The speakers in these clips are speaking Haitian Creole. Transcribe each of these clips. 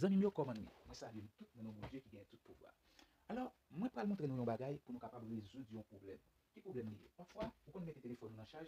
Zanmim yo kòman nou ye mwen salye nou tout nan non Bondye ki gen tout pouvwa alò mwen pral montre nou yon bagay pou nou kapab rezoud yon pwoblèm ki pwoblèm li ye pafwa ou konn mete telefòn ou nan chaj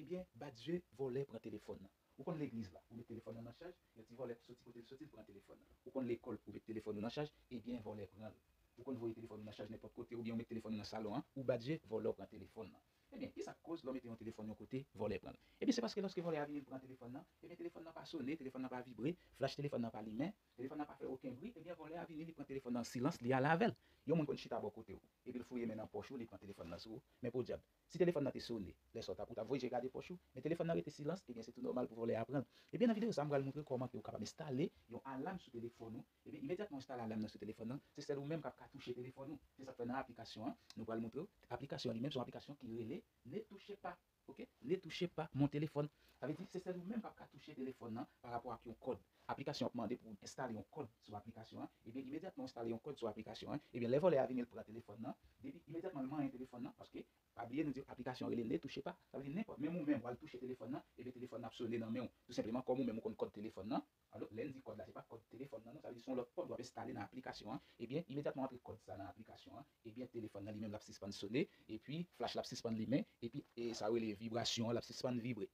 ebyen badye vòlè pran telefòn nan ou konn legliz la ou met telefòn nan nan chaj yon ti vòlè soti kotel soti li pran telefòn nan ou konn lekòl ou met telefòn ou nan chaj ebyen vòlè pranl ou konn voye telefòn ou nan chaj nenpòt kote oubyen ou met telefòn ou nan salon an ou badye vòlè ou pran telefòn nan. Ebyen, ki sa k koz lè w mete yon telefòn yon kote, vòlè pran l? Ebyen, se paske lòske vòlè a vini pran telefòn nan, ebyen telefòn nan pa sone, telefòn nan pa vibre, flach telefòn nan pa limen, telefòn nan pa fè oken bri, ebyen vòlè a vini li pran telefòn nan an silans, li ale avè l. Yon moun konn chita bò kote w, epi l fouye men nan pòch ou, li pran telefòn nan sou ou. Men podyab, si telefòn nan te sone, lè sa w t ap, ou t ap voye je gade pòch ou, men telefòn nan rete silans, ebyen se tou nòmal pou vòlè a pran l. Ebyen nan videyo sa a m pral montre w kòman ke ou kapab enstale yon alam sou telefòn ou Epi imedyatman ou enstale alam nan sou telefòn nan, se sèl ou menm k ap ka touche telefòn ou. Se sa k fè nan aplikasyon an, nou pral montre w, aplikasyon an li menm se yon aplikasyon ki rele Ne touchez pas ok Ne touchez pas mon téléphone. Sa vle di se sèl ou menm k ap ka touche telefòn nan parapò ak yon kòd. Aplikasyon an ap mande pou w enstale yon kòd sou aplikasyon an. Ebyen imedyatman ou enstale yon kòd sou aplikasyon an, ebyen lè vòlè a vini l pran telefòn nan, depi imedyatman l manyen telefòn nan, paske pa bliye nou di w aplikasyon an rele Ne touchez pas, sa vle di nenpòt, menm ou menm w al touche telefòn nan, ebyen telefòn nan ap sone nan men w tou senpleman kòm ou menm ou konn kòd telefòn nan, Alò, lè l di kòd la se pa kòd telefòn nan non, sa vle di se yon lòt kòd w ap enstale nan aplikasyon an, ebyen imedyatman w antre kòd sa nan aplikasyon an, ebyen telefòn nan li menm l ap sispann sone, epi flach la ap sispann limen, epi sa yo rele vibrasyon an l ap sispann vibre.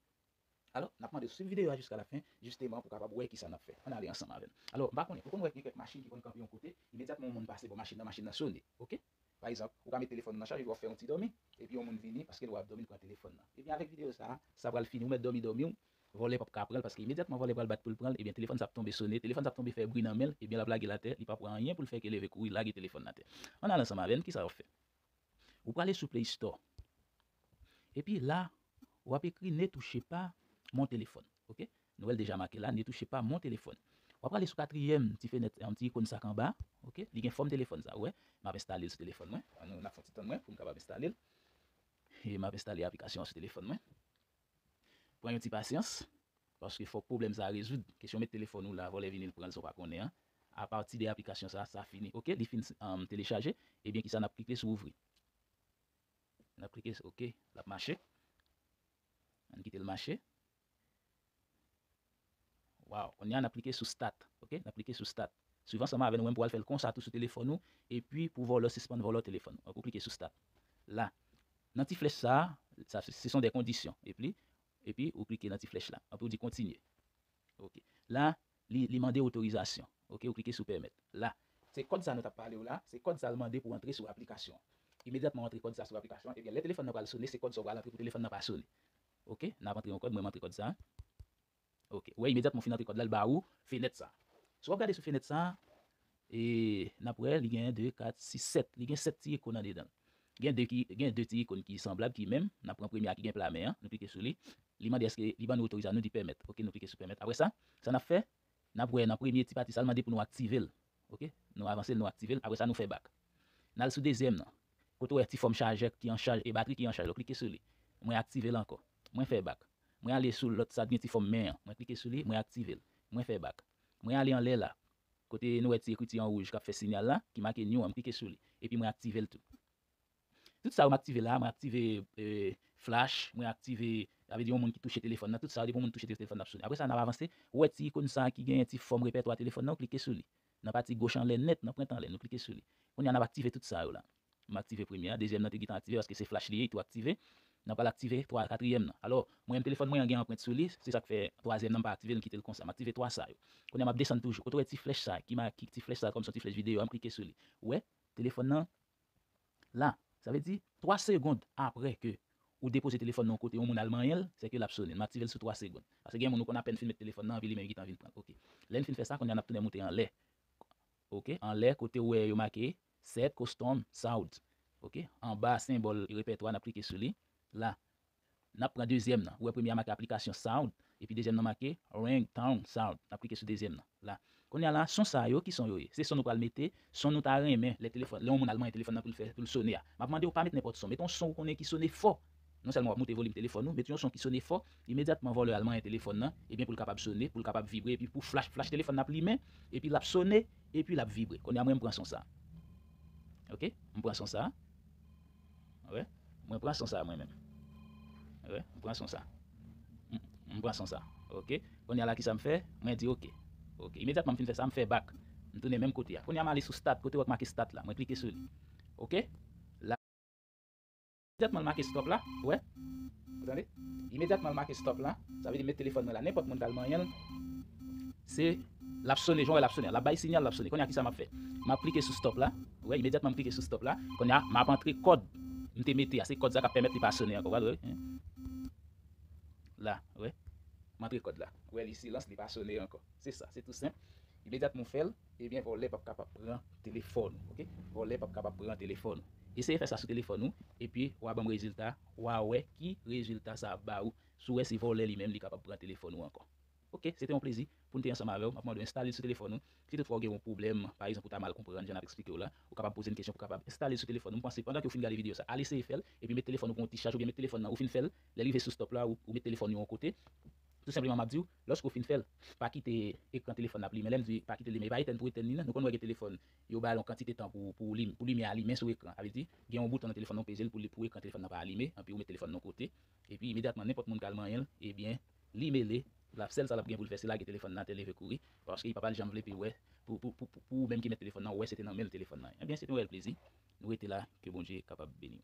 Alò, n ap mande w suiv videyo a jiska lafen, jisteman pou w kapab wè kisa n ap fè. Ann ale ansanm avè m. Alò, m pa konnen, ou konn wè gen kèk machin ki konn kanpe yon kote, imedyatman yon moun pase bò machin nan, machin nan sone. Oke? Pa egzanp, ou ka met telefòn ou nan chaj epi wap fè yon ti dòmi, epi yon moun vini paske l wè wap dòmi l pran telefòn nan. Ebyen avèk videyo sa, sa pral fini ou mèt dòmi dòmi w, vòlè pap ka pran l paske imedyatman vòlè pral bat pou l pran l ebyen telefòn sa ap tonbe sone, telefòn sa ap tonbe fè bri nan men l ebyen lap lage l atè li pap wè anyen pou l fè ke leve kouri lage telefòn atè. Ann al ansanm avè n kisa wap fè? Ou prale sou play store epi la wap ekri ne touchez pas mon téléphone ok Nwèl deja make la, Netouche pa mon telefòn. W ap rale sou katriyèm ti fenèt yon ti ikon sak anba a, ok. Li gen fòm telefòn sa, ou wè. M ap enstale l sou telefòn mwen. An nou, n ap fè yon ti tann wè pou m kapab enstale l. E m ap enstale aplikasyon an sou telefòn mwen. Pran yon ti pasyans, paske fòk pwoblèm sa a rezoud. Kesyon met telefòn ou la, vòlè vini l pran l san w pa konnen an. Apati de aplikasyon sa a, sa fini, ok. Li fin telechaje, ebyen kisa n ap klike sou ouvri. N ap klike sou ok, l ap mache. An n kite l mache. Waw konnya nap klike sou stat ok nap klike sou stat swiv ansanm avèn ou menm pou al fèl konsa tou sou telefòn ou epi pou vòlò sispann vòlò telefòn ou ok ou klike sou stat la nan ti flèch sa sa se son de kondisyon epli epi ou klike nan ti flèch la apre ou di kontinye ok la li li mande otorizasyon ok ou klike sou pèmèt la se kòd sa nou tap palew la se kòd sal mande pou antre sou aplikasyon imedyatman ou antre kòd sa sou aplikasyon ebyen lè telefòn nan pral sone se kòd sa ou pral antre pou telefòn nan pa sone Ok nap antre yon kòd mwen m antre kòd sa ok wè imedyatman ou fin antre kòd la l ba ou fenèt sa sou wap gade sou fenèt sa e nap wè li gen 2 4 6 7 li gen 7 ti ikon nan dedan gen 2 ki gen 2 ti ikon ki sanblab ki menm nap pran premye a ki gen pla men an nou klike sou li li mande èske li ban nou otoriza nou di pèmèt ok nou klike sou pèmèt apre sa sa nap fè nap wè nan premye ti pati sa l mande pou nou aktive l Ok nou avansel nou aktivel apresa nou fè bak nal sou dezyèm nan kote ou wè ti fòm chajè ki an chaj e batri ki an chaj ou klike sou li mwen aktivel ankò mwen fè bak mwen ale sou lòt sa gen ti fòm men an mwen klike sou li mwen aktivel mwen fè bak mwen ale anlè la kote nou wè ti ekriti an wouj kap fè sinyal la ki make new an mklike sou li epi mwen aktivel tou. Tout sa yo m aktive la, mwen aktive flash, mwen aktive, sa vle di yon moun ki touche telefòn nan, tout sa yo depi yon moun touche telefòn nan ap sone. Aprè sa n ap avanse, ou wè ti ikon sa ki genyen ti fòm repètwa telefòn nan, ou klike sou li. Nan pati goch anlè nèt, nan pwent anlè, nou klike sou li. Kounye a n ap aktive tout sa yo la. M aktive premye a, dezyèm nan te gentan aktive paske se flash li ye, li tou aktive. N ap pral aktive twa, katriyèm nan. Alò, mwen menm telefòn mwen an gen anprent sou li, se sa k fè twazyèm nan m pa aktive l, m kite l konsa. M aktive twa sa yo. Kounye a m ap desann toujou. Kote ou wè ti flèch sa ki ma, ti flèch sa kòmsi yon ti flèch videyo a, m klike sou li. Ou wè, telefòn nan la, sa vle di 3 segond aprè ke ou depoze telefòn nan yon kote yon moun al manyen l, sèke l ap sone. M aktive l sou 3 segond. Paske gen yon moun ou konn apèn fin met telefòn nan anvi limen li gentan vin pran l. Ok. Lè n fin fè sa, kounye a n ap tounen moute anlè. Ok. Anlè kote ou wè yo make Set Custom Soud. Ok. Anba senbòl repètwa n ap klike sou li, la. Nap pran dezyèm nan. Ou wè premye a make aplikasyon sound epi dezyèm nan make ring tone sound. Nap klike sou dezyèm nan la. Kounya la son sa yo ki son yo ye? Se son nou pral mete, son nou ta renmen lè telefòn lè yon moun al manyen telefòn nan pou l fè pou l sone a. Map mande w pa met nenpòt son, met yon son ou konnen ki sone fò. Non sèlman wap moute volim telefòn ou, met yon son ki sone fò, imedyatman vòlè al manyen telefòn nan ebyen pou l kapab sone, pou l kapab vibre epi pou flash flash telefòn nan ap limen epi lap sone epi lap vibre. Kounya mwen m pran son sa. Ok, m pran son sa. Wè mwen pran son sa mwen menm wè mwen pran son sa mwen pran son sa ok kounya la kisa mfè mwen di ok ok imedyatman mfin fè sa mfè back mtounen menm kote a kounya male sou start kote wap make start la mwen klike sou li ok la imedyatman l make stop la wè ou tande imedyatman l make stop la sa vle di met telefòn mwen la nenpòt moun kal manyenl se. Lap sone, jan w wè lap sone an. Lap bay sinyal lap sone. Kounye a kisa map fè? Map klike sou stop la. Ou wè imedyatman m klike sou stop la. Kounye a map antre kòd m te mete a. Se kòd sa kap pèmèt li pa sone ankò. Ou wè lwe? La, ou wè? M antre kòd la. Ou wè li silans li pa sone ankò. Se sa, se tou senp. Imedyatman ou fè l, ebyen vòlè pap kapab pran telefòn ou. Ok? Vòlè pap kapab pran telefòn ou. Eseye fè sa sou telefòn ou, epi wa banm rezilta, wa wè ki rezilta sa ap ba ou. Si w wè se vòlè li menm li kapab pran telefòn ou ankò. Ok, se te yon plezi pou n te ansanm avè w. M ap mande w enstale l sou telefòn ou. Si toutfwa ou gen yon pwoblèm, pa egzanp ou ta mal konprann jan n ap esplike w la, ou kapab poze n kesyon pou w kapab enstale l sou telefòn ou. M panse pandan ke ou fin gade videyo sa, al eseye fè l, epi met telefòn ou pran yon ti chaj oubyen met telefòn nan ou fin fè l, lè l rive sou stop la ou met telefòn ou yon kote. Tou senpleman m ap di w, lòske ou fin fè l, pa kite ekran telefòn nan ap limen. Lè m di pa kite l limen, e pa etèn pou etèn li nan. Nou konn wè gen telefòn, yo ba l yon kantite tan pou pou limyè a limen sou ekran. Sa vle di, gen yon bouton nan telefòn nan ou peze l pou ekran telefòn nan pa alime, anpi ou met telefòn nan yon kote, epi imedyatman nenpòt moun ka al manyen l, ebyen, Li mele la sèl sa lap gen poul fè se lage telefòn nan atè leve kouri paske li papal janm vle pi wè pou pou ou menm ki met telefòn nan wè se te nan menl telefòn nan ebyen se te yon rèl plezi nou rete la ke bondye kapab beniw.